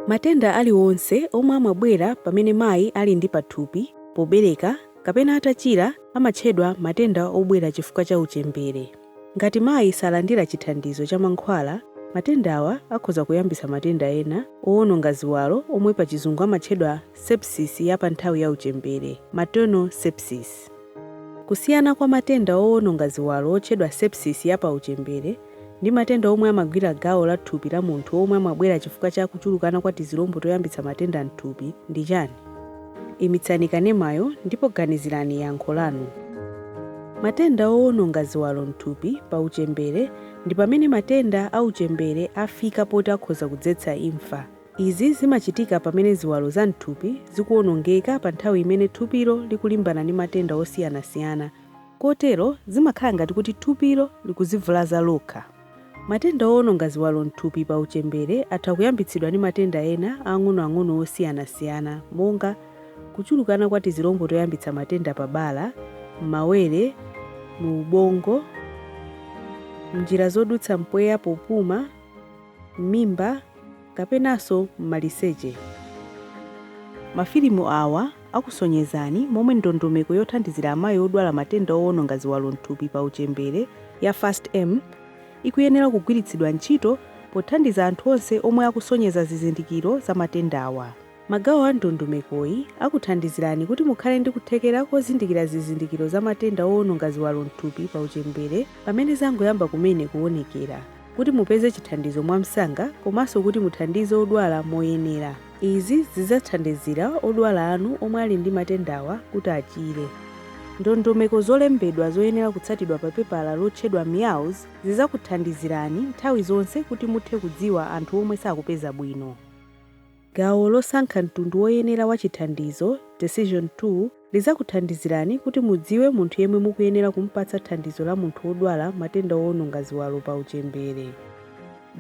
Matenda aliwonse omwe amabwera pamene mayi ali ndi pathupi, pobereka, kapena atachira amatchedwa matenda obwera chifukwa cha uchembere. Ngati mayi salandira chithandizo cha mankhwala, matendawa akhoza kuyambitsa matenda ena owononga ziwalo omwe pachizungu amatchedwa sepsis ya panthawi ya uchembere, maternal sepsis. Kusiyana kwa matenda owononga ziwalo otchedwa sepsis ya pa uchembere ndi matenda omwe amagwira gawo la thupi la munthu omwe amabwera chifukwa cha kuchulukana kwa tizilombo toyambitsa matenda m'thupi ndi chani? Imitsani kanemayo ndipo ganizirani yankho lanu. Matenda owononga ziwalo m'thupi pa uchembere ndi pamene matenda a uchembere afika poti akhoza kudzetsa imfa. Izi zimachitika pamene ziwalo za m'thupi zikuwonongeka pa nthawi imene thupilo likulimbana ndi matenda osiyanasiyana kotero, zimakhala ngati kuti thupilo likuzivulaza lokha. Matenda owononga ziwalo m'thupi pa uchembere atha kuyambitsidwa ndi matenda ena ang'onoang'ono osiyanasiyana monga, kuchulukana kwa tizilombo toyambitsa matenda pa bala, m'mawere, mu ubongo, m'njira zodutsa mpweya popuma, m'mimba, kapenanso m'maliseche. Mafilimu awa akusonyezani momwe ndondomeko yothandizira amayi odwala matenda owononga ziwalo m'thupi pa uchembere ya FAST-M ikuyenera kugwiritsidwa ntchito pothandiza anthu onse omwe akusonyeza zizindikiro za matendawa. Magawo a ndondomekoyi akuthandizirani kuti mukhale ndi kuthekera kozindikira zizindikiro za matenda owononga ziwalo m'thupi pa uchembere pamene zangoyamba kumene kuwonekera, kuti mupeze chithandizo mwamsanga komanso kuti muthandize odwala moyenera. Izi zidzathandizira odwala anu omwe ali ndi matendawa kuti achire. Ndondomeko zolembedwa zoyenera kutsatidwa pa pepala lotchedwa MEOWS zizakuthandizirani nthawi zonse kuti muthe kudziwa anthu omwe sakupeza bwino. Gawo losankha mtundu woyenera wa chithandizo, Decision Tool, lidzakuthandizirani kuti mudziwe munthu yemwe mukuyenera kumupatsa thandizo la munthu wodwala matenda owononga ziwalo pa uchembere.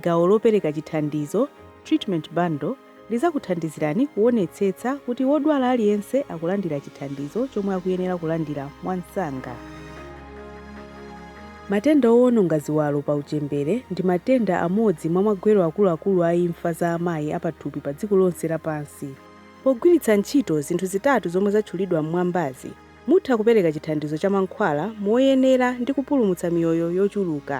Gawo lopereka chithandizo, Treatment Bundle, lidzakuthandizirani kuwonetsetsa kuti wodwala aliyense akulandira chithandizo chomwe akuyenera kulandira mwamsanga. Matenda owononga ziwalo pa uchembere ndi matenda amodzi mwa magwero akuluakulu a imfa za amayi apathupi pa dziko lonse lapansi. Pogwiritsa ntchito zinthu zitatu zomwe zatchulidwa m'mwambazi, mutha kupereka chithandizo cha mankhwala moyenera ndi kupulumutsa miyoyo yochuluka.